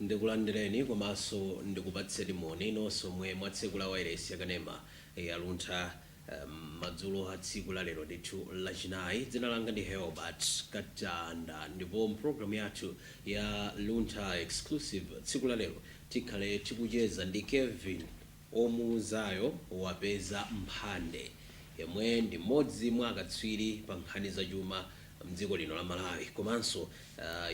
ndikulandireni komanso ndikupatseni moni nonse omwe mwatsekula wailesi ya kanema ya Luntha Madzulo a tsiku la lero ndithu lachinayi, dzina langa ndi Helbert Katanda ndipo mu pulogalamu yathu ya Luntha Exclusive tsiku la lero tikhale tikucheza ndi Kelvin Omuuzayo Wapeza Mphande yemwe ndi mmodzi mwa akatswiri pa nkhani za chuma mdziko lino la Malawi komanso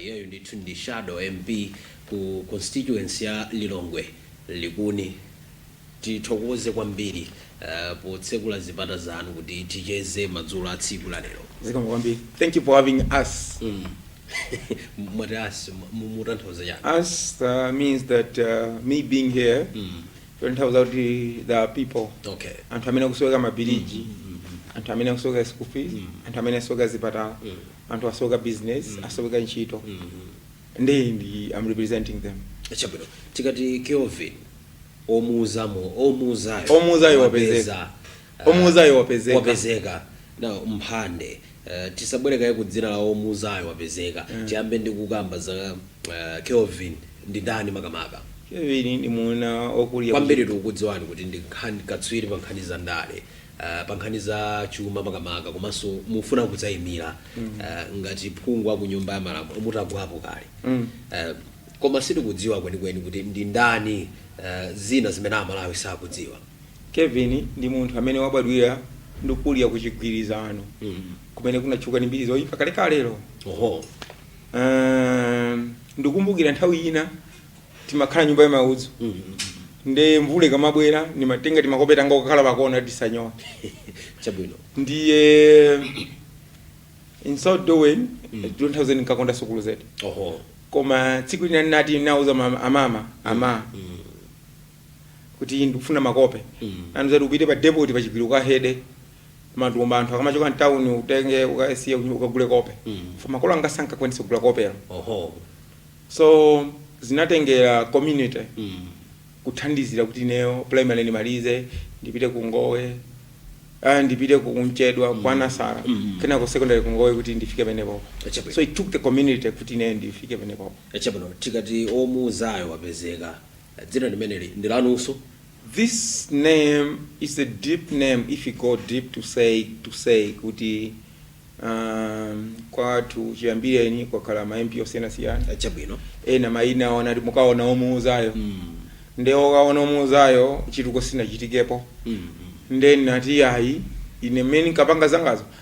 iyeyo uh, ndithu ndi shadow MP ku constituency ya Lilongwe Likuni tithokoze kwambiri uh, potsekula zipata zanu kuti ticheze madzulo a tsiku la lero zikomo kwambiri thank you for having us mm. mwati us mutanthauza chani us uh, means that uh, me being here mm. kutanthauza kuti the people okay anthu amene akusowekera mabiriji anthu amene akusowekera school fees anthu amene akusowekera zipatala anthu asowekera business asowekera ntchito ndi ndi i'm representing them chabwino tikati kelvin omuuzamo omuuzayo Omuuzayo wapezeka. Omuuzayo wapezeka. wapezeka na mphande uh, tisabwere kaye ku dzina la omuuzayo wapezeka tiyambe ndi kukamba za uh, kelvin ndi ndani makamaka Kevin ndi muuna okuliya kwambiri tikukudziwani kuti ndi nkhani katswiri pa nkhani za ndale uh, pa nkhani za chuma makamaka komanso mufuna kudzayimira uh, ngati phungu wa ku nyumba ya malamulo mutagwapo kale Mm. uh, koma sitikudziwa kwenikweni kuti ndi ndani uh, zina zimene Amalawi sakudziwa Kevin ndi munthu amene wabadwira ndi kukulira ku Chigwirizano kumene kunatchuka ndi mbiri zoipa kalekalelo. Oho. Um, ndikumbukira nthawi ina timakhala nyumba ya maudzu nde mvula ikamabwera ndimatenga timakope tanga kukhala pakona kuti tisanyowe Chabwino. ndiye in so doing ndikuuzeni nkakonda sukulu zedi Oho. koma tsiku lina ndinati ndauza mama- amama ama kuti ndikufuna makope andiuza kuti upite pa depoti pa chigwiro ukahede matumba anthu akamachoka mtawuni utenge ukasiye kuti ukagule kope for makolo anga sankakwanitsa kugula kopelo oho so zinatengera community kuthandizira kuti ineyo primary ndimalize ndipite ku ngowe ah, ndipite ku mchedwa kwa nasara kenako secondary ku ngowe kuti ndifike penepapo Chabwino. so it took the community kuti ineyo ndifike penepapo chabwino tikati omuuzayo wapezeka Dzina limeneli ndi lanunso? This name is a deep name if u go deep to say to say kuti ahm kwathu chiyambireni kwakhala ma MP osiyanasiyana Chabwino. ena mayina awo anati mukaona omuuzayo Mm. nde okaona omuuzayo chituko sinachitikepo Mm. nde nati ayi ine mmene nkapanga zangaza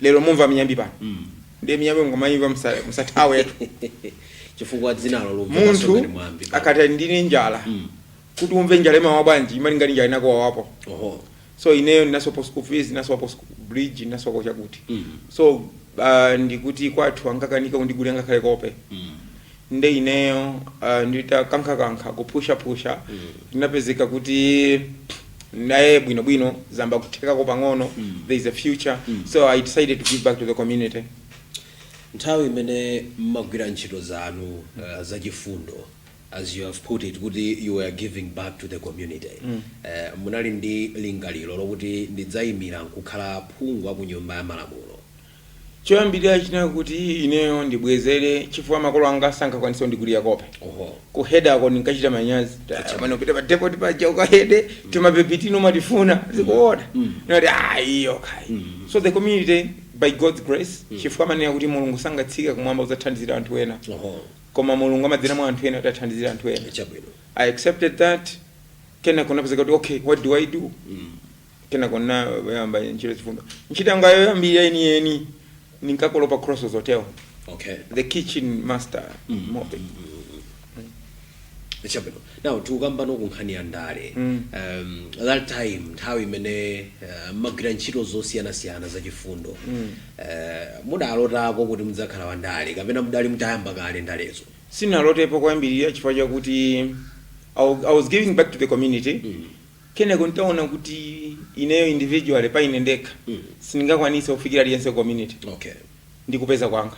lero mumva miyambi pano ndiye miyambi mukamayimva musa- musathawetu chifukwa dzinalo lomwe munthu pasungani mwambi akati ndine njala Mm. kuti umve njala imawa bwanji imali ngati njala inako wawapo oho so ineyo ndinasopo school fees ndinasopo bridge ndinasopo chakuti Mm. so uh, ndikuti kwathu angakanika kundigulira ngakhale kope Mm. nde ineyo nditakankhakankha kupushapusha ndinapezeka kuti naye bwinobwino zamba kuthekako pang'ono there is a future so i decided to give back to the community nthawi imene mmagwira ntchito zanu uh, zachifundo as you have put it kuti you were giving back to the community mm. uh, munali ndi lingaliro lokuti ndidzayimira nkukhala phungu wa ku nyumba ya malamulo Choyambirira chinali kuti ineyo ndibwezere chifukwa makolo anga sankakwanitsa kundigulira kope. Oho. Ku head-ako ndinkachita manyazi. Tati pano upite pa depot paja ukahede timabegi tino umatifuna. Mukuona. Ndinati ah iyo kai. So the community by God's grace chifukwa amanena kuti Mulungu sangatsike kumwamba kudzathandizira anthu ena. Oho. Koma Mulungu amadzera mwa anthu ena kuti athandizire anthu ena. Chabwino. I accepted that. Kenako ndapezeka kuti okay what do I do? Kenako ndinayamba ntchito yachifundo. Ntchito yanga yoyambirira yeniyeni ndinkakolopa pa Crossroads Hotel, Okay. the kitchen master mopping. Chabwino. Now tikambeno ku nkhani ya ndale. Um, that time nthawi imene uh, mmagwira ntchito zosiyanasiyana zachifundo. Uh, mudalotako kuti mudzakhala wa ndale kapena mudali mutayamba kale ndalezo. Sindinalotepo kwambiri chifukwa chakuti I wa- I was giving back to the community Kenako nditaona kuti ineyo individually pa ine ndekha sindingakwanise kufikira aliyense ku community Okay. ndi kupeza kwanga.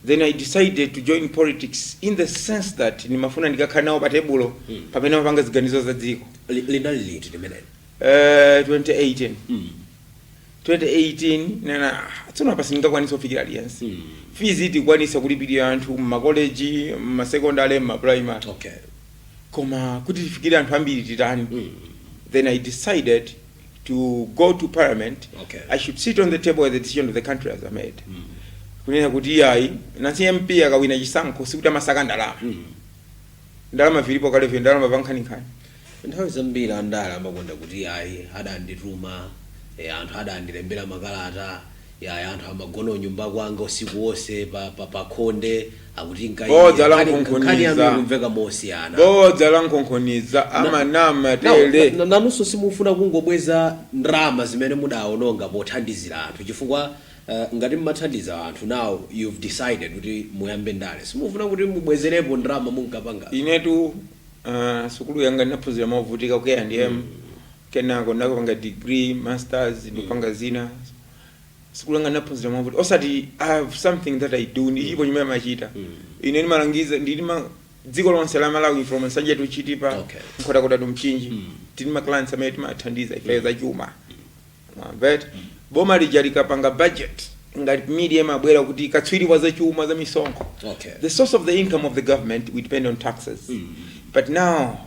Then I decided to join politics in the sense that ndimafuna ndikakhale nawo pa tebulo pamene amapanga ziganizo za dziko. Li- Linali liti limeneli? Eh, 2018 Mm. 2018 nena "Ah, tsono apa sindingakwanisa kufikira aliyense Mm. fees tikwanisa kulipirira anthu mmakoleji mmasekondale mmaprimary Okay. koma kuti tifikire anthu ambiri titani then i decided to go to parliament Okay. i should sit on the table where the decision of the country has made kunena kuti iyayi nansi mp akawina chisankho sikuti amasaka ndalama ndalama vilipo kale ndalama pankhaninkhani nthawi zambiri andale amakonda kuti ayi adandituma eh, anthu adandilembera makalata Yaya anthu amagona unyumba kwanga usiku onse pa, pa, pa khonde akuti nkhani Bodza la nkhani- nkhani yanu nkhonkhoniza. ikumveka mosiyana bodza la nkhonkhoniza amanama Now, tele na- na- nanunso simufuna kungobweza ndalama zimene mudaononga pothandizira anthu chifukwa eh, ngati mmathandiza anthu now you've decided kuti muyambe ndale simufuna kuti mubwezerepo ndalama munkapanga inetu ah, sukulu yanga ndinaphunzira movutika ku A&M kenako ndakapanga degree, masters ndikupanga zina sukulu yanga ndinaphunzira movutika osati i have something that i do ndilipo chimene amachita ine ndimalangiza ndilima dziko lonse la malawi from nsanje to chitipa Okay. nkhotakota to mchinji tili ma clients amene timathandiza ife za chuma mwamvatu boma lija likapanga budget ngati media imabwera kuti katswiri wa zachuma za misonkho Okay. the source of the income of the government we depend on taxes but now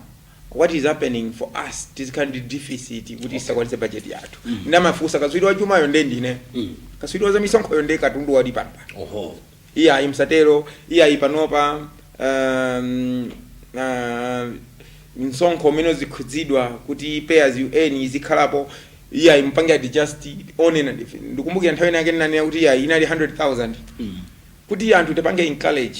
what is happening for us tizikhala ndi deficit kuti tisakwanitse budget yathu mm. nde amafunsa katswiri wa chumayo nde ndine mm. katswiri wa zamisonkhoyo nde katundu wali pano oho iyayi musatero iyayi panopa um, uh, msonkho umene uzichotsedwa kuti pay as you earn izikhalapo iyayi mupange adjust onena ndife ndikumbukira nthawi inake ndinanena kuti iyayi inali 100000 kuti anthu tipange encourage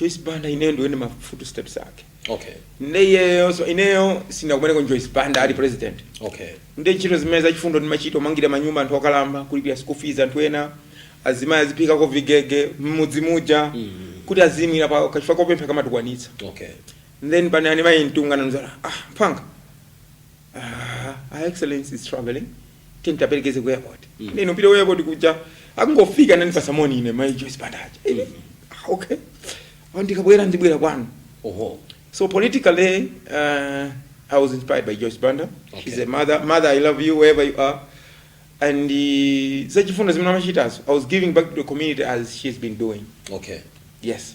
Joyce Banda ineyo ndiyende ma footsteps ake okay ndeyeyo so ineyo sinakumeneko Joyce Banda ali president okay nde ntchito zimene zachifundo ndimachita kumangira manyumba anthu okalamba kulipira school fees anthu ena azimayi aziphikako vigege mmudzi muja kuti azidalira paokha chifukwa kopempha kamatukwanitsa okay then panani mayi mtunga ndi mzanga ah mphanga ah, her excellency is traveling tiye tikaperekeze ku airport mm. ine kupita ku airport kuja akungofika anandipasa moni ine mai Joyce Banda aja mm. ah, okay oh, ndikabwera ndibwera kwanu oho so politically uh, I was inspired by Joyce Banda okay. she's a mother mother I love you wherever you are and uh, zachifundo zimene amachitazo I was giving back to the community as she's been doing okay yes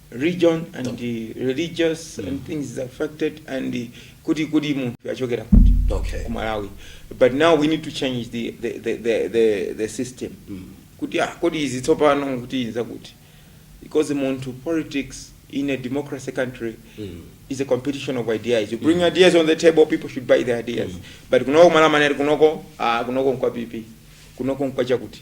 region and religious mm. and things is affected and kuti kuti munthu achokera kuti okay. kumalawi but now we need to change the, the, the, the, the, the system mm. kuti ah, kodi izi tsopano kuti inza kuti because munthu politics in a democracy country mm. is a competition of ideas you bring mm. ideas on the table people should buy the ideas mm. but kunoko kumalawi amanena kunoko ah, kunoko nkwa PP kunoko nkwa chakuti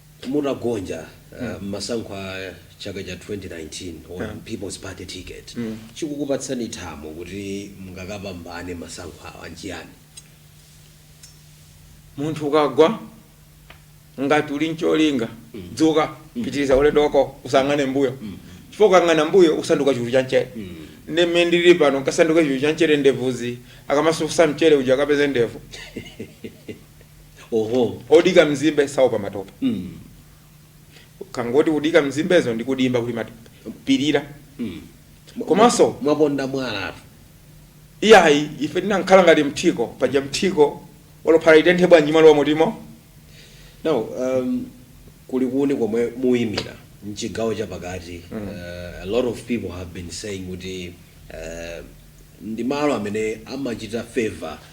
mutagonja uh, mmasankho a chaka cha 2019 pa people's party ticket chikukupatsani thamo kuti mungakapambane masankho awa nchiyani munthu ukagwa ngati uli ncholinga dzuka pitiriza ulendo wako usayang'ane mbuyo chifukwa ukayang'ana mbuyo usanduka chulu cha mchere nde mmene ndilili pano nkasanduka chulu cha mchere ndevuzi akamasusa mchere uja akapeze ndevu oho odika mzimbe saopa matope mm. kangotiudika mzimbezo ndi ku dimba kuli matope pirira mm. komanso mwaponda mwala iyayi ife ndinankhala ngati mthiko paja mthiko olo phala litenthe bwanji malo wamutimo now um, ku Likuni komwe muyimira mchigawo chapakati mm. uh, a lot of people have been saying kuti uh, ndi malo amene amachita favor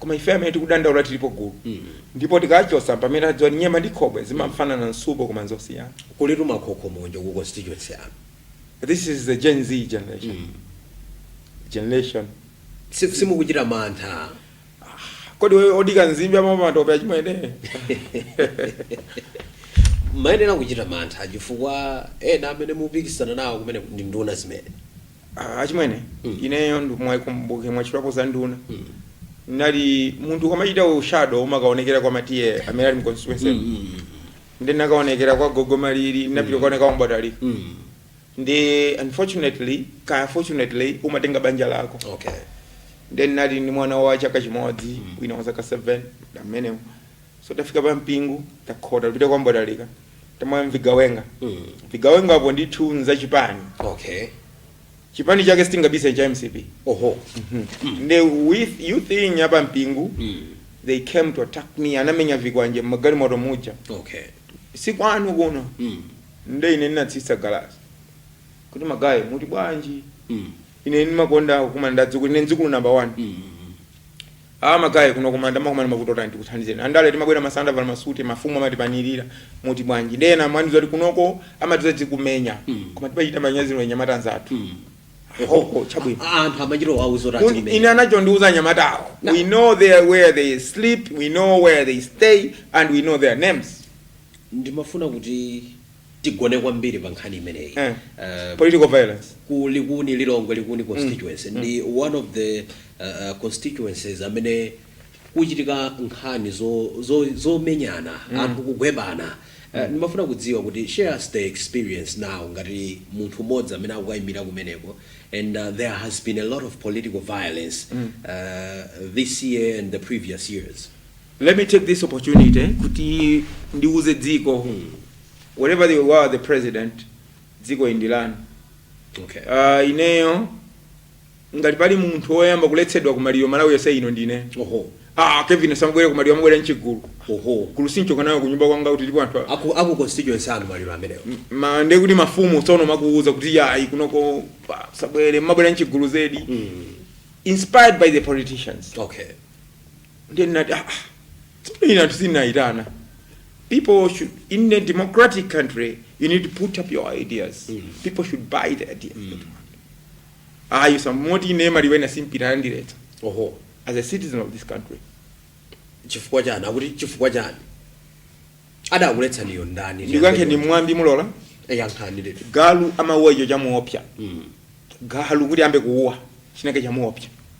koma ife amene tikudandaula tilipo gulu ndipo tikachotsa mpamene adziwa kuti nyema ndi khobwe zimafanana msupu koma nzosiyana kulitu makhokho monjo ku constituency yanu this is the gen z generation generation Si- simukuchita mantha kodi we odika nzimbe amaopa matope achimwene mayenera kuchita mantha chifukwa ena amene mupikisana nawo kumene ndi nduna zimene Ah, achimwene ineyo ndikumbuke mwatchulapo za nduna nali munthu ukamachita ushado umakaonekera kwa ma T/A amene ali mu constituency nde ndinakaonekera kwa gogo Malili ndinapita kuoneka kwa M'bwatalika nde unfortunately kaya fortunately umatenga banja lako okay nde nali ndi mwana wa chaka chimodzi wina wa zaka 7 amenewo so tafika pa Mpingu takhota tipita kwa M'bwatalika tamwa mvigawenga Mm. mvigawenga apo ndithu nzachipani okay chipani chake sitingabise cha MCP oho nde with youth wing ya pa Mpingu Mm. they came to attack me anamenya vikwanje mmagalimoto muja okay si kwanu kuno Mm. nde ine ndinatsitsa galasi kuti ma guy muti bwanji Mm. Ine ndimakonda kumanda adzukulu. Ine dzukulu namba wani. Mhuu! Aaa ma guy, kuno kumanda mumakumana mavuto otani tikuthandizeni. Andale timabwera masana tavala ma suti, mafumu amatipanilira. Muti bwanji? Ndiye ena mwa iwo kuti kunoko amati tidzakumenye. Koma timachita manyazi ndiwe mnyamata mnzathu. Oho, chabwino. A, anthu amachita kuwauza kuti Kun, ine adzikumenya. anachondiuza anyamatawo. Na- We know their, where they sleep, we know where they stay, and we know their names. Ndimafuna kuti tigone kwambiri pa nkhani imeneyi Eh. Eh, political violence ku Likuni Lilongwe Likuni constituency ndi one of the uh, uh, constituencies amene kuchitika nkhani zo- zo- zomenyana anthu kugwebana Uh, ndimafuna kudziwa kuti share us the experience now ngati munthu mmodzi amene akukayimira kumeneko and uh, there has been a lot of political violence uh, this year and the previous years Let me take this opportunity kuti ndiuze dziko wherever they were the president dziko indilani okay. uh, ineyo ngati pali munthu woyamba kuletsedwa ku maliro Malawi yonse ino ndine oho ah Kelvin asamabwere ku maliro amabwera mchigulu oho gulu sinchoka nayo kunyumba kwanga kuti ndipo anthu a- aku aku constituency anu maliro amenewo ma ndiye kuti mafumu tsono amakuuza kuti yayi kunoko pa- musabwere mumabwera mchigulu zedi inspired by the politicians okay ndiye ndinati ah, ah, tsono ine anthu sindinayitana people should in a democratic country you need to put up your ideas people should buy the ideas that you want ayi osamati ine maliro ena sindipita ndiletsa oho as a citizen of this country chifukwa chani akuti chifukwa chani adakuletsaniyo ndani ndiyankhe ni mwambi mulola yankhani ndithu galu amauwa icho chamuopsya galu kuti ambe kuuwa chinake chamuopsya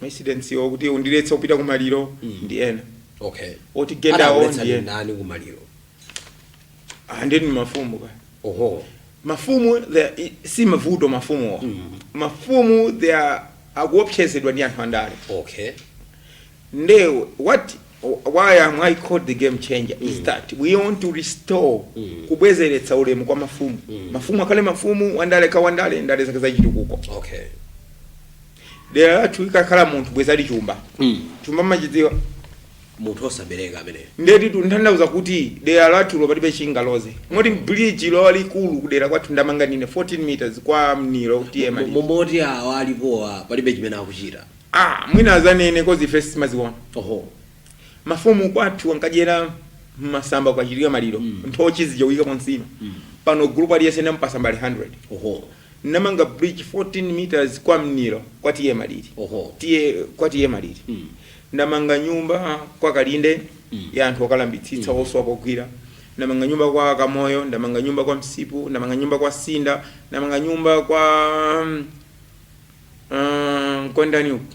ma incidents okuti undiletsa kupita kumaliro ndi ena okay otigenda awo ndi ena ndi ndani kumaliro ndiye ndi mafumu ka oho mafumu they are- i- si mavuto mafumuwa mafumu they are akuopsezedwa ndi anthu andale okay nde what why am i called the game changer is that we want to restore kubwezeretsa ulemu kwa mafumu mafumu akhale mafumu wandale akhale wandale ndale zake zachitukuko okay dera lathu likakhala munthu bwezi ali chumba mm. chumba mumachidziwa munthu osabereka ameneyo ndiye tikutanthauza kuti dera lathulo palibe chingaloze ngati bridge lalikulu kudera kwathu ndamanga ndine 14 meters kwa mniro kwa T/A moti awa alipowa palibe chimene akuchita ah mwina adzanene coz ife sitimaziona oho mafumu kwathu ankadyera m'masamba kukachitika maliro mm. nthochi zija kuyikamo nsima mm. pano gulupu aliyense ndamupatsa mbale 100 oho ndamanga bridge 14 meters kwa mniro kwa T/A malili oho T/A kwa T/A malili mm. ndamanga nyumba kwa kalinde mm. ya anthu okalambitsitsa mm. osowa pogwira ndamanga nyumba kwa kamoyo ndamanga nyumba kwa msipu ndamanga nyumba kwa sinda ndamanga nyumba kwa um, um, kwa ndani uku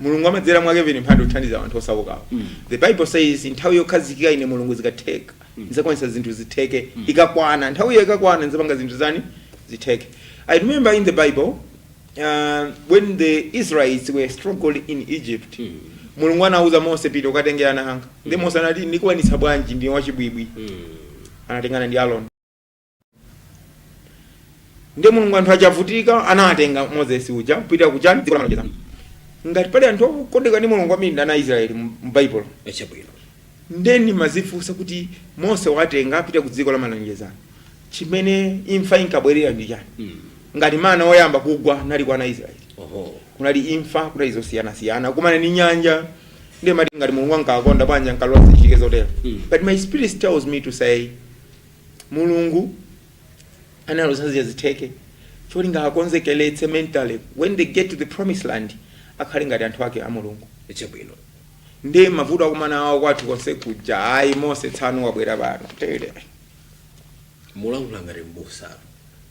mulungu amadzera mwa kelvin mphande kuthandiza anthu osaukawo Mm. the bible says nthawi yokhazikika ine mulungu zikatheka ndizakwanisa zinthu zitheke ikakwana nthawi iyo ikakwana ndizapanga zinthu zani zitheke i remember in the bible uh, when the israelites were struggling in egypt Mm. mulungu anauza mose pita ukatenge ana anga ndi mose anati ndikwanisa bwanji ndi wachibwibwi Mm. anatengana ndi aroni ndiye mulungu anthu achavutika anawatenga moses uja kupita ku chani dziko la malonjezano ngati pali anthu okondeka ndi mulungu kwambiri ndi ana israeli mu mu baibulo ee chabwino nde ndimadzifunsa kuti mose wawatenga akupita ku dziko la malonjezano chimene imfa inkabwerera ndi chani Mm. ngati mana oyamba kugwa anali kwa ana israeli oho kunali imfa kunali zosiyanasiyana kukumana ndi nyanja ndiye ndimati ngati mulungu ankawakonda bwanji ankalola zichitike zotero Mm. but my spirit tells me to say mulungu analola zija zitheke cholinga akonzekeletse mentally when they get to the promised land akhale ngati anthu ake a mulungu chabwino ndi mavuto akukumana awo kwathu konse kuja ayi mose tsano wabwera pano tele mulankhula ngati mbusa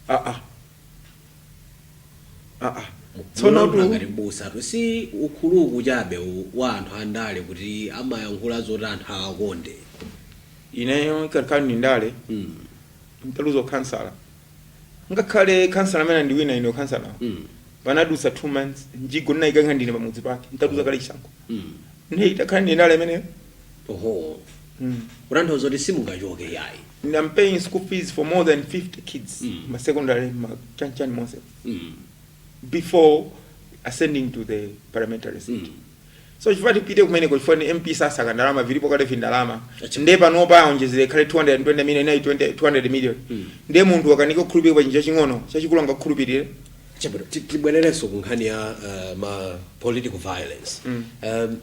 ah ah ah ah tsono mulankhula tu ngati mbusa tu si ukuluku chabe u- wa anthu andale kuti amayankhula zoti anthu awakonde Ineyo ikanakhala ndale mm. ntaluza ukhansala ngakhale khansala amene andiwina ine ukhansalawo mm. panadutsa two months mjigo ndinayikanso ndine pamudzi pake ntaluza oh. kale chisankho mm. nde itakhala ndi ndale imeneyo oho mm. kutanthauza kuti simungachoke yayi I'm paying school fees for more than 50 kids mm. ma secondary ma chanichani monse mm. before ascending to the parliamentary seat mm. So sikuti tipite kumeneko chifukwa ni MP tisaka ndalama vilipo kale vindalama Acha. nde panopa aonjezere ikhale 220 million inali 20 200 million nde munthu wakanika kukhulupirira pa chinthu chaching'ono chachikulu angakukhulupirire Chabwino, ti- tibwererenso ku nkhani ya uh, ma political violence mm. um,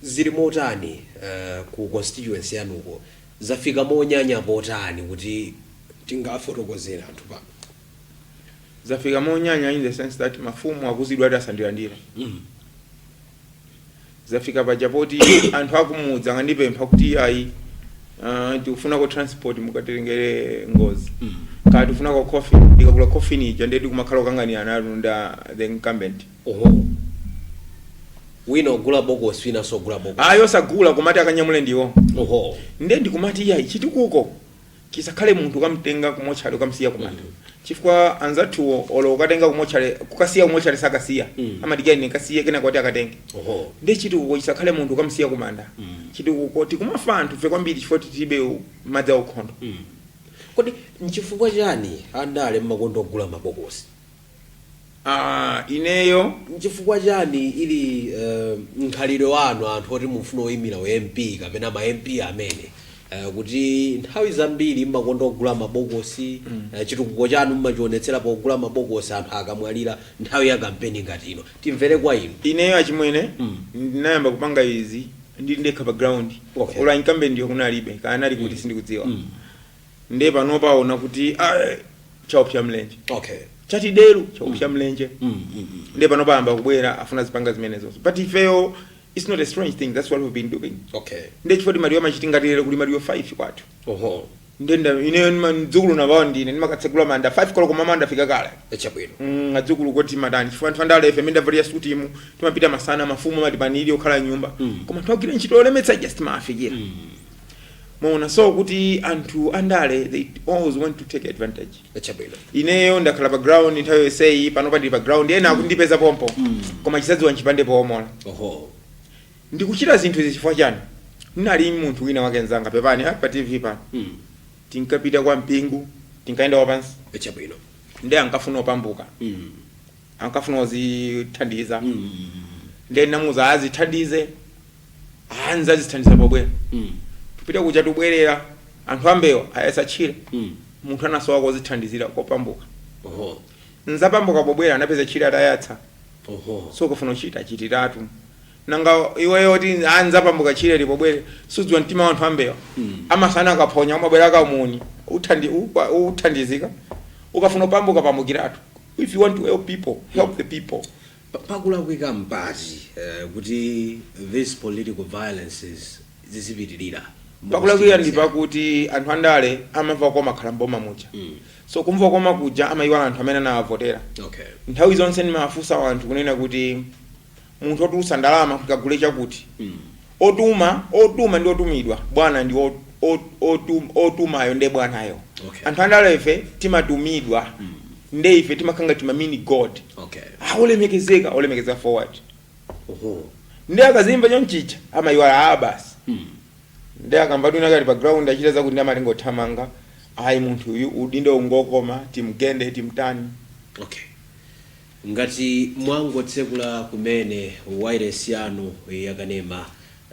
zili motani uh, ku constituency yanuyo zafika monyanya potani kuti tingafotokozera anthu pano zafika monyanya in the sense that mafumu akuuzidwa ati asandilandire mm. zafika paja poti anthu akumudzi akandipempha kuti ayi uh, tikufunako transport mukatengere nkhuni mm. kaya tikufunako coffin ndikagula coffin ija ndeti kumakhala kukanganirana ine ndi the incumbent oho wina ogula bokosi wina sogula bokosi ayo sagula kumati akanyamule ndiwo oho nde ndikumati iyayi chitukuko Chisakhale munthu kukamtenga kumotchale kukamsiya kumanda chifukwa anzathuwo olo ukatenga kumotchale kukasiya kumotchale sakasiya amadikira ine ndikasiye kenako oti akatenge Oho. ndiye chitukuko chisakhale munthu kukamsiya kumanda chitukuko tikumafa anthu fe kwambiri chifukwa tilibe u- madzi aukhondo Kodi nchifukwa chani andale mmakonda kugula mabokosi? Aaa ineyo. Nchifukwa chani uli uh, mkhalidwe wanu anthu oti mufuna kuyimira u MP kapena ma MP amene uh, kuti nthawi zambiri mmakonda kugula mabokosi mm. uh, chitukuko chanu mmachionetsera pogula mabokosi anthu akamwalira nthawi ya kampeni ngati ino timvere kwa inu Ineyo achimwene mm. ndinayamba kupanga izi ndili ndekha pa ground Okay. olo a incumbent iwo kunalibe kaya anali kuti sindikudziwa Mm. nde panopa aona kuti "Ae, chaopsa mlenje okay chati deru chaopsa mlenje mm, mm, mm. nde panopa ayamba kubwera afuna azipanga zimenezo but ifeyo it's not a strange thing that's what we've been doing okay nde chifukwa ti maliro akachitika ngati lero kuli maliro 5 kwathu oho ndiye kuti ineyo ndima- mdzukulu number one ndine ndimakatsegula manda 5 koloko mmawa ndafika kale echabwino Mm, adzukulu akuti amadana chifukwa anthu andale ife timangovala suti mm timapita masana mafumu amatipanira pokhala nyumba koma twagwira ntchito yolemetsa just mafikira mwaona so kuti anthu andale they always want to take advantage chabwino ineyo ndakhala pa ground nthawi yonseyi panopa ndili pa ground ena akundipeza pompo Mm. koma chizadziwa nchipande poomola oho ndikuchita zinthu izi chifukwa chani ndinali munthu wina wake nzanga pepani ah, pa tv pano Mm. tinkapita kwa Mpingu tinkayenda wapansi chabwino nde ankafuna kupambuka Mm. ankafuna kuzithandiza Mm. nde ndinamuuza azithandize ah nzazithandiza pobwera Mm. tupita kuja tubwerera anthu ambewa ayatsa tchire Mm. munthu anasowa kozithandizira kopambuka Oho. nzapambuka pobwera anapeza tchire atayatsa Oho. so ukafuna kuchita chitiratu nanga iweyo woti ah nzapambuka tchire ili pobwera sudziwa mtima wa anthu ambewa Mm. amasana akaphonya umabwera akamuni uthandi, upa- uthandizika ukafuna kupambuka pambukiratu if you want to help people help the people Pakulakwika mpati kuti these political violences zizipitilira Pakulakwika ndi mukuzichepetsera? pakuti anthu andale amamva kukoma akhala m'boma muja. So kumva kukoma kuja amayiwala anthu amene anawavotera. Okay. Nthawi zonse ndimafunsa anthu kunena kuti munthu wotulutsa ndalama kuti kagule chakuti Otuma, otuma ndi otumidwa. Bwana ndi o, o, otum, otumayo nde bwanayo. Okay. Anthu andale ife timatumidwa nde ife timakhala ngati ma mini god. Okay. Ah, olemekezeka, olemekezeka for what? Oho. Nde akazimva chonchicha amayiwala ah basi. Mm. Nde akamva kuti winawake ali pa ground achita zakuti nde amatenga othamanga. Ayi munthu uyu udindo ungokoma timgende timtani. Okay. Ngati mwangotsekula kumene wailesi yanu yakanema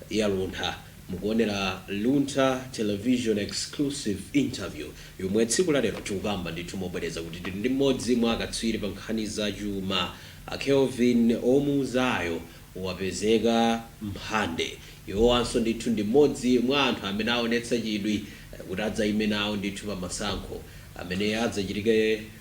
ya Luntha, mukuonera Luntha Television Exclusive Interview yomwe tsiku la lero tikukamba ndithu mobwereza kuti tili ndi mmodzi mwa akatswiri pa nkhani za chuma a Kelvin Omuuzayo Wapezeka Mphande iwowanso ndithu ndi mmodzi mwa anthu amene aonetsa chidwi kuti adzaime nawo ndithu pa masankho amene adzachitike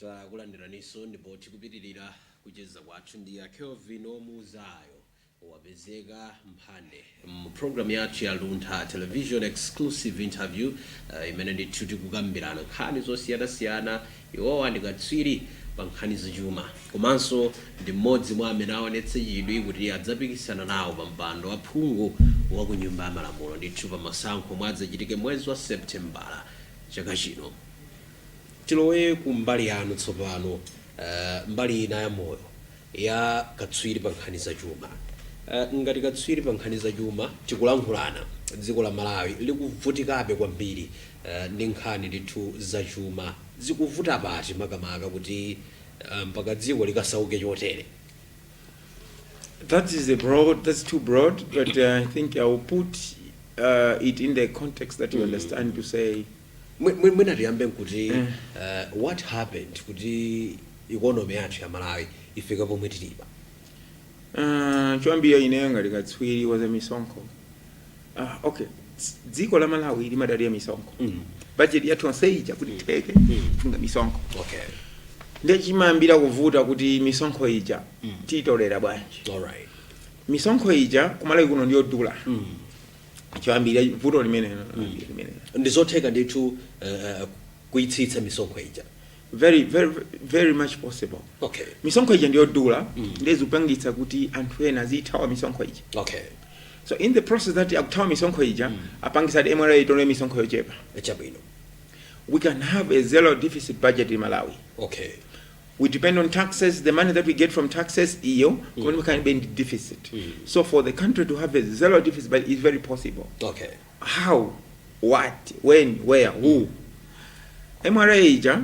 Takulandiraninso ndipo tikupitirira kucheza kwathu ndi a Kelvin Omuuzayo Wapezeka Mphande mu program yathu ya Luntha Television exclusive interview uh, imene ndithu tikukambirana nkhani zosiyanasiyana Iwowa ndi katswiri pa nkhani za chuma komanso ndi m'modzi mwa amene aonetsa chidwi kuti adzapikisana nawo pa mpando wa phungu wa ku nyumba ya malamulo ndithu pa masankho omwe adzachitike mwezi wa Seputembala chaka chino. Tilowe ku mbali yanu tsopano, mbali ina ya moyo. ya katswiri pa nkhani za chuma. Ngati katswiri pa nkhani za chuma tikulankhulana, dziko la Malawi likuvutikabe kwambiri ndi nkhani ndithu za chuma. Zikuvuta pati makamaka kuti mpaka dziko likasauke chotere? That is a broad, that's too broad, but I think I will put it in the context that you understand to say. Mwi- mwi- mwina tiyambe nkuti uh, what happened kuti economy yathu ya malawi ifika pomwe tilipa Ah, choyambira ineyo ngati katswiri wa za misonkho ah, okay Ts- dziko la malawi limadalira misonkho Mm. bajeti yathu yonse ija kuti itheke ifuna misonkho okay nde chimayambira kuvuta kuti misonkho ija tiitolera bwanji alright misonkho ija kumalawi kuno ndiyodula mm. choyambirira vuto limenelo limenelo ndi zotheka ndithu uh, kuitsitsa misonkho ija very very very much possible okay misonkho ija ndiyodula ndiye zikupangitsa kuti anthu ena azithawa misonkho ija okay so in the process that akuthawa misonkho ija apangitsa kuti mra itole misonkho yochepa chabwino we can have a zero deficit budget in malawi okay we depend on taxes, the money that we get from taxes we can be in deficit so for the country to have a zero deficit budget is very possible okay how what when where who mra ija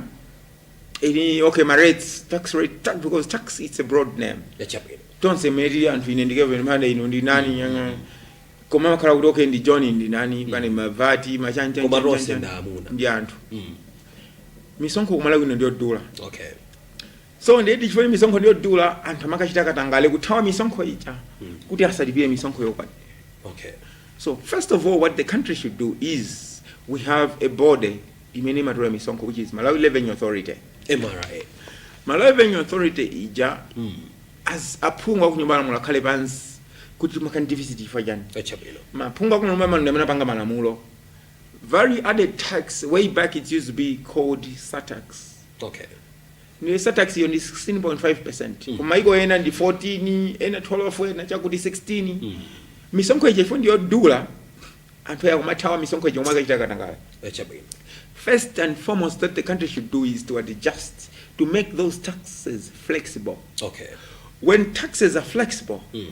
ili okay ma rates tax rate tax, because tax it's a broad name chabwino tonse meri anthu ine ndi Kelvin Mphande ino ndi nani nyanga koma makhala kuti okay ndi john ndi nani pane mavati Koma tonse ndi amuna. ndi anthu Mm. misonkho kumalawi kuno ndiyodula okay so ndiye chifukwa kuti misonkho ndiyodula anthu amakachita katangale kuthawa misonkho ija kuti asalipire misonkho yokwanira okay So first of all, what the country should do is we have a body imene imatola misonkho which is Malawi Revenue Authority. mra Malawi Revenue Authority ija as aphungu akunyumba ya malamulo akhale pansi kuti timakhala ndi deficit chifukwa chani. Chabwino Aphungu akunyumba ya malamulo amene apanga malamulo Value added tax way back it used to be called surtax okay Ndiye surtax yo ndi 16.5% mm. kumaiko ena ndi 14 ena 12 ena chakuti 16 mm. misonkho ija chifukwa ndiyodula anthu aja akumathawa misonkho ija kumakachita katangala chabwino first and foremost that the country should do is to adjust to make those taxes flexible okay when taxes are flexible mm.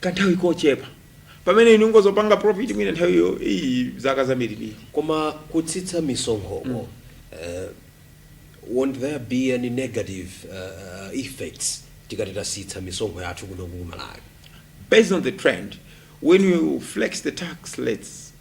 kanthawi kochepa pamene inu mukudzapanga profit mwina nthawiyo iyi zaka zambirimbiri Koma kutsitsa misonkhoko, eh, won't there be any negative uh, uh, effects tikati tatsitsa misonkho yathu kuno ku Malawi? based on the trend when you flex the tax rates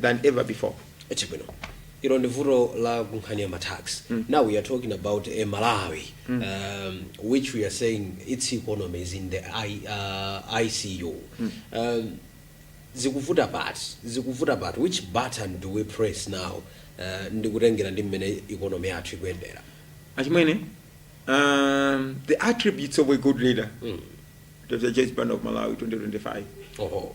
than ever before. Chabwino. Ilo ndi vuto la kunkhani ya matax. Now we are talking about a Malawi um, which we are saying its economy is in the I, uh, ICU. Um, zikuvuta pati zikuvuta pati which button do we press now uh, ndikutengera ndi mmene economy yathu ikuyendera Achimwene, um, the attributes of a good leader. Mm. Dr. Joyce Banda of Malawi 2025. oho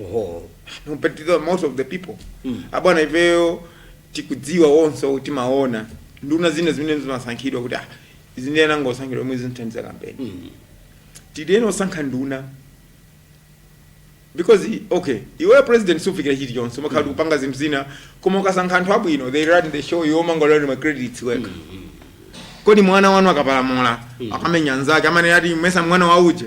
oho competitor most of the people Mm. abwana ifeyo tikudziwa onse kuti timaona nduna zina zimene zimasankhidwa kuti ah izi ndiye zangosankhidwa omwe zinathandiza kampeni Mm. tidene osankha nduna because i- okay iwe president sufikira chilichonse umakhala kuti ukupanga zinthu zina koma ukasankha anthu abwino they run the show iwe umangotolera ma credits wekha kodi mwana wanu akapalamula akamenya nzake amanena kuti mesa mwana wa uje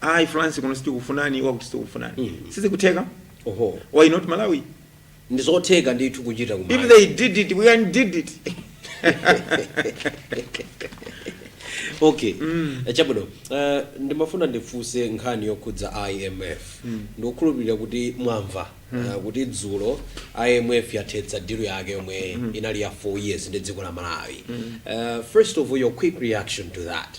ayi france kuno sitikufunani iwo akuti sitikufunani mm -hmm. sizikutheka oho why not malawi ndizotheka ndithu kuchita kumalawi if they did it we can did it okay Eh, chabwino Eh, ndimafuna ndifunse nkhani yokhudza imf ndikukhulupirira kuti mwamva eh, kuti dzulo imf yathetsa deal yake yomwe inali ya 4 years ndi dziko la malawi Eh, first of all your quick reaction to that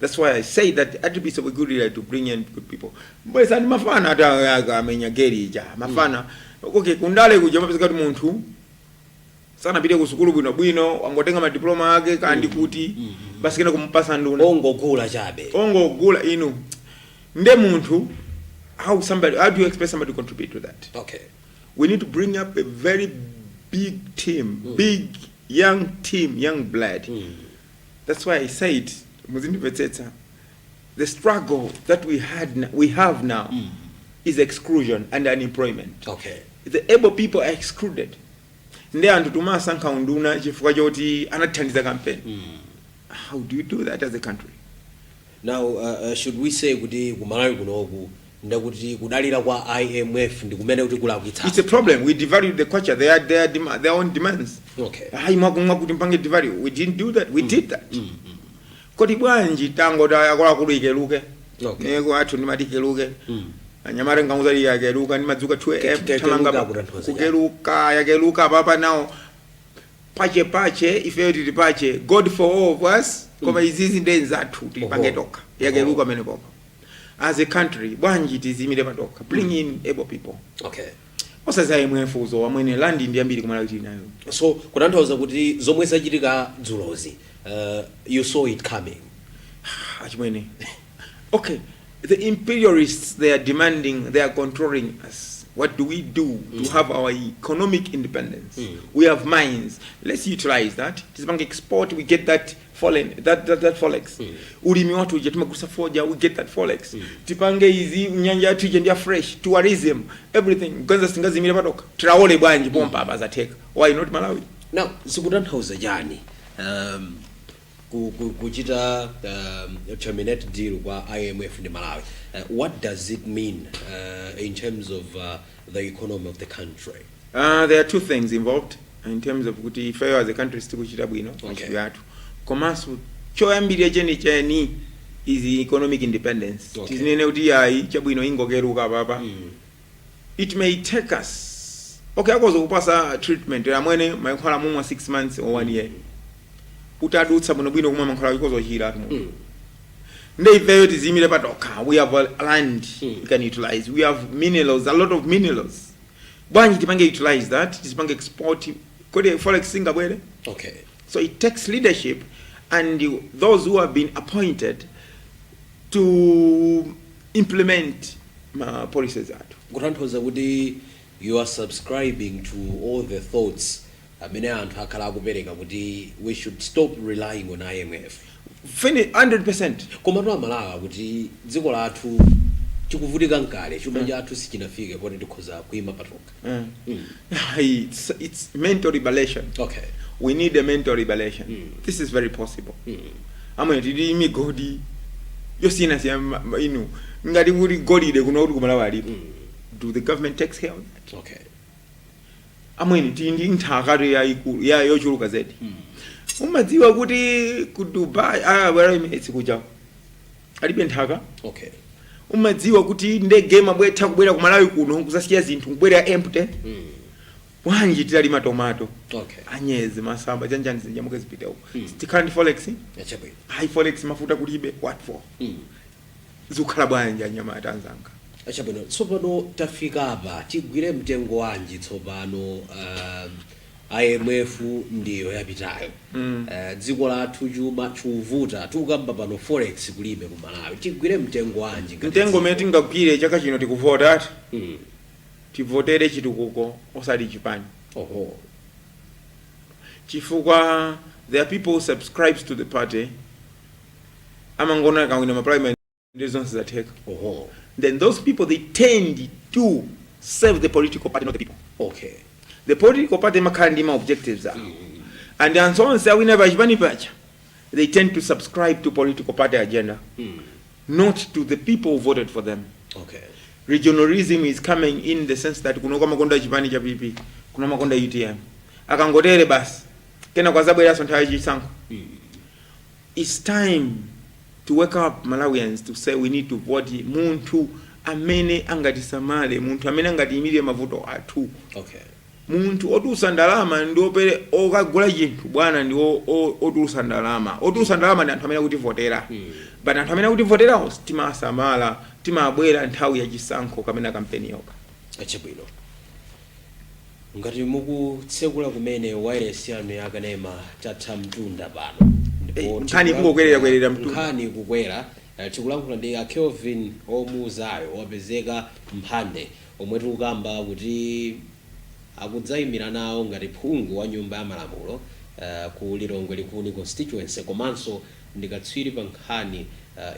That's why I say that I'd be so good leader to bring in good people. But sandi mafana hata aka amenya geri ija. Mafana. Okay, kundale kuja mapezeka kuti munthu sana pite ku sukulu bwino bwino wangotenga ma diploma ake kandi kuti basi kena kumupasa nduna. ongogula chabe Ongogula inu. Nde munthu how somebody how do you expect somebody to contribute to that? okay we need to bring up a very big team, big young team, young blood. That's why I said muzindimvetsetsa the struggle that we had n- we have now Mm. is exclusion and unemployment. okay The able people are excluded. Ndi anthu tumasankha unduna chifukwa choti anathandiza kampeni. mm. How do you do that as a country? now uh, uh, should we say kuti kumalawi kunoku nde kuti kudalira kwa IMF ndikumene kukutilakwitsa. It's a problem. We devalued the kwacha. They had their, dem their own demands. Okay. Hayi mwakumwa kuti mpange devalue. We didn't do that. We mm. did that. Mm. Mm. Kodi bwanji tango ta yakola kulu ikeluke. Okay. Nde kwathu timati ikeluke. Mm. Anyamata ngamuza li yakeluka nimadzuka 2 AM. Tamanga kukeluka yakeluka papa nao. Pachepache ifeyo tili pache. God for all of us. Koma mm. izizi nde zathu tizipange tokha. Yakeluka mene papa. as a country bwanji tiziimire patokha bring in able people okay osati za imf izo amwene land ndi yambiri kumalawi tili nayo so kutanthauza kuti zomwe zachitika dzulozi uh, you saw it coming achimwene okay the imperialists they are demanding they are controlling us what do we do to have our economic independence we have mines let's utilize that tizipange export we get that we get that, that, that forex ulimi wathu uja timagulisa foja we get that forex tipange izi nyanja yathu ija ndi ya fresh tourism everything bwanji singaziimire patokha Traore bwanji pompa apa zatheka why not malawi now zikutanthauza chani um, ku- ku- kuchita um, terminate deal kwa imf ndi malawi uh, what does it mean uh, in terms of uh, the economy of the country Uh, there are two things involved in terms of kuti ifeyo as a country sitikuchita bwino komanso choyambirira chenicheni is economic independence Okay. tizinene kuti ayi chabwino tingocheuka apapa it may take us okay akhoza kukupatsa treatment amwene mankhwala mumwa 6 months or 1 year utadutsa bwinobwino kumwa mankhwala ukhoza kuchira Mm. nde ifeyo tiziyimire patokha we have a land Mm. we can utilize we have minerals a lot of minerals bwanji tipange utilize that tizipange export kodi forex singabwere okay so it takes leadership and you- those who have been appointed to implement ma policies athu kutanthauza kuti you are subscribing to all the thoughts amene anthu akhala akupereka kuti we should stop relying on IMF. 100% Komatu a Malawi kuti dziko lathu tikuvutika kale chuma mm. chathu sichinafike poti tikhoza kuima patokha. Mm. Mm. It's, it's mental liberation. Okay. We need a mental liberation. Mm. This is very possible. Mm. Amwene tili ndi migodi yosiyanasiyana inu ngati kuti golide kuno kuti ku Malawi alipo. Mm. Do the government takes care of that? Okay. amwene tili ndi nthaka ya yochuluka zedi umadziwa kuti ku dubai ah, well, emirates kuja alibe nthaka okay umadziwa kuti ndege imabwera kubwera ku malawi kuno kuzasiya zinthu kubwerera empty bwanji titalima tomato okay anyezi masamba chanichani zinyamuke zipite uko tikhala ndi forex ya chabwino ayi forex mafuta kulibe what for zikukhala bwanji anyamata anzanga? Chabwino, tsopano tafika apa, tigwire mtengo wanji tsopano? Uh, IMF ndiyo yapitayo mm. Uh, dziko lathu chuma chikuvuta tikukamba pano forex kulibe ku Malawi, tigwire mtengo wanji? Mtengo umene tingagwire chaka chino tikuvota ati mm. tivotere chitukuko osati chipani. Oho. Chifukwa there are people who subscribes to the party amangona akawina ma primary ndi zonse zatheka oho then those people they tend to serve the political party not the people okay the political party makhala ndi ma objectives awo and anthu onse awina pachipani pacha they tend to subscribe to political party agenda not to the people who voted for them okay regionalism is coming in the sense that kuno kwamakonda chipani cha pp kuno makonda utm akangotere basi kena kwazabweranso nthawi ya chisankho Its time to wake up Malawians to say we need to vote munthu amene angatisamale, munthu amene angatiyimilire mavuto athu, okay. munthu otulusa ndalama ndi opere okagula chinthu bwana ndi otulusa ndalama, otulusa ndalama ndi anthu amene akutivotera mm. but anthu amene akutivoterawo timawasamala, timabwera nthawi ya chisankho kapena kampeni yoka. Chabwino. Ngati mukutsekula kumene wailesi yanu ya kanema tatha mtunda pano ndipo Ei, nkhani ikungokwererakwerera mtunda. nkhani ikukwera eh, tikulankhula ndi a Kelvin omuuzayo wapezeka mphande omwe tikukamba kuti akudzayimira nawo ngati phungu wa nyumba ya malamulo eh, ku Lilongwe Likuni constituency komanso ndi katswiri pa nkhani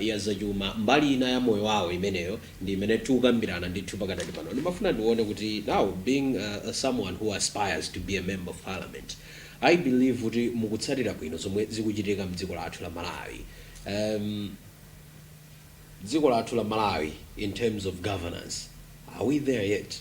ya zachuma. Mbali ina ya moyo wawo imeneyo ndi imene tikukambirana ndithu pakadali pano. Ndimafuna ndione kuti now being someone who aspires to be a member of parliament, I believe kuti mukutsatira bwino zomwe zikuchitika mdziko lathu la Malawi. Um, dziko lathu la Malawi in terms of governance, are we there yet?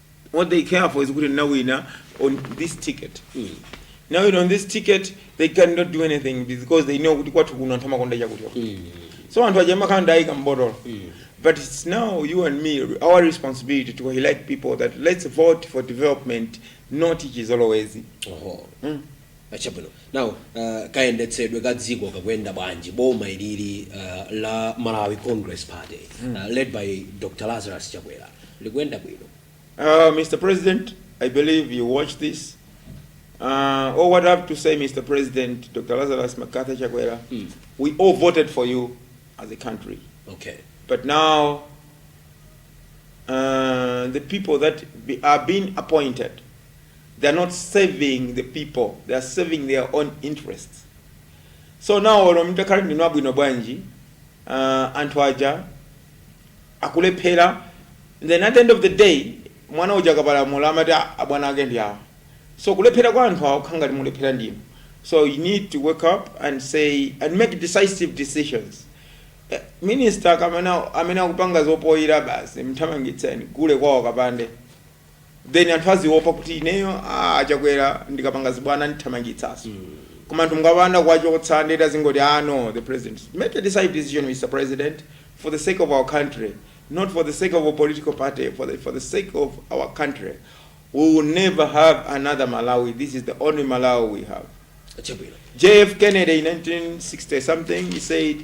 what they care for is kuti ndinawina on this ticket nawina on this ticket they cannot do anything because they know kuti kwathu kuno anthu amakonda chakuti so anthu aja amakhala nditaika mbotolo but it's now you and me our responsibility to highlight people that let's vote for development not chizolowezi Oho. Ah, chabwino now uh, kayendetsedwe ka dziko kakuyenda bwanji boma ilili uh, la malawi congress party uh, led by dr lazarus chakwera likuyenda bwino Uh, Mr. President, I believe you watch this. Uh, all what I have to say, Mr. President, Dr. Lazarus MacArthur Chakwera, Mm. we all voted for you as a country. okay But now, uh, the people that be, are being appointed they are not serving the people they are serving their own interests so now olo mtakhala ndinu abwino bwanji uh, anthu aja akulephera then at the end of the day mwana uja akapalamula amati "Ah, abwana ake ndi awa so kulephera kwa anthu awo kukhala ngati mulephera ndinu so you need to wake up and say and make decisive decisions Eh, minister amene akupanga zopoyira basi mthamangitseni gule kwawo kapande then anthu aziopa kuti ineyo ah, chakwera ndikapanga zibwana andithamangitsaso koma anthu mukapanda kuwachotsa ndeti azingoti ah no the president make a decisive decision mr president for the sake of our country not for the sake of a political party for the, for the sake of our country we will never have another malawi this is the only malawi we have chabwino JF Kennedy in 1960 something, he said,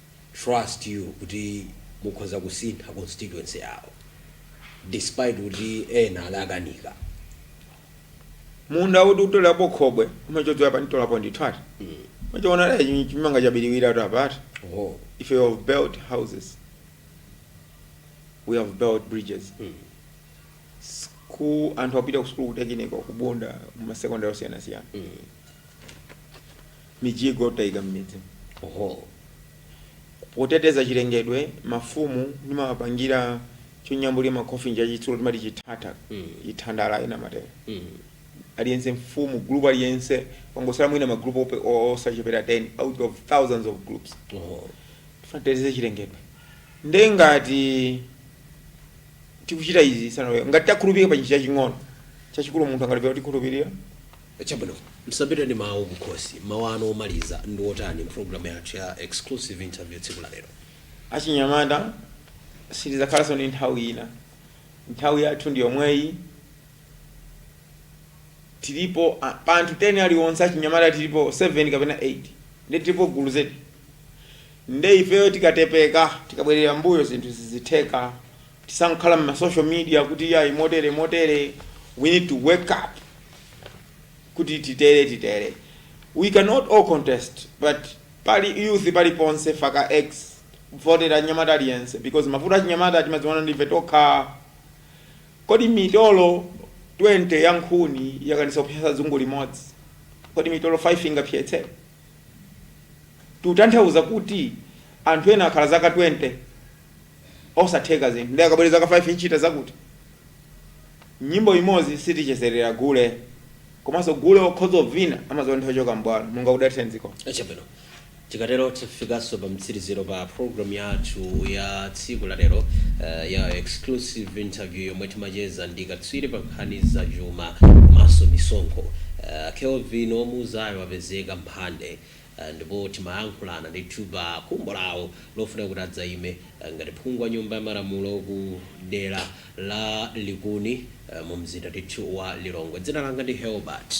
trust you kuti mukhoza kusintha constituency yawo despite kuti ena adakanika. munda uti utolapo khobwe umachodzera pa ntolapo ndithu ati mukachiona chi- chimanga chabiriwira ati apa ati Oh. if you have built houses we have built bridges Mm. school anthu akupita ku school kutekiniko kubunda m'ma secondary osiyanasiyana Mm. mijigo taika mmidzi ho. Poteteza chilengedwe, mafumu ndimawapangira chonyambulira ma coffin chachitsulo timati chithatha, chithandala ena amatero. Aliyense mfumu, group aliyense angosala mwina ma group osachepera 10 out of thousands of groups. Tikufuna titeteze chilengedwe nde ngati tikuchita izi sanalowe ngati takhulupirika pa chinthu chaching'ono, chachikulu munthu angalephere kutikhulupirira? Chabwino, musapite ndi mawu kukhosi. Mawu anu omaliza ndi otani mu programu yathu ya Exclusive Interview tsiku la lero? Achinyamata sitidzakhalanso ndi nthawi ina. Nthawi yathu ndi yomweyi. Tilipo a, pa anthu 10 aliwonse achinyamata tilipo 7 kapena 8. Ndiye tilipo gulu zedi. Ndiye ifeyo tikatopa, tikabwerera m'mbuyo zinthu sizitheka. Tisangokhala mma social media kuti iyayi motere motere, we need to wake up kuti titere titere. We cannot all contest but pali youth paliponse faka X votera nyamata aliyense because mavuto achinyamata timadziwana ndife tokha. Kodi mitolo 20 ya nkhuni yakanika kupsetsa dzungu limodzi? Kodi mitolo 5 ingapsetse? Tikutanthauza kuti anthu ena akhala zaka 20 osatheka zinthu ndiye akabwere zaka 5 n'kuchita zakuti nyimbo imodzi sitichezerera gule komanso gule okhoza kuvina amaziwa nthawi yochoka mbwalo Mulungu adalitse dziko chabwino tikatero tifikanso pa mtsiriziro pa programu yathu ya tsiku la lero eh, ya exclusive interview yomwe timacheza ndi katswiri pa nkhani za chuma komanso misonkho Eh, kelvin omuzayo apezeka mphande Ndipo timayankhulana ndithu pa khumbo lawo lofuna kuti adzaime ngati phungu wa nyumba ya malamulo ku dera la Likuni mu mzinda ndithu wa Lilongwe. Dzina langa ndi Helbert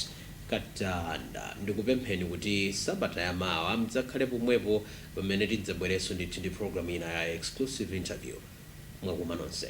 Katanda. Ndikupempheni kuti sabata ya mawa mdzakhale pomwepo pamene tidzabwerenso ndithu ndi program ina ya exclusive interview. Mwakuma nonse.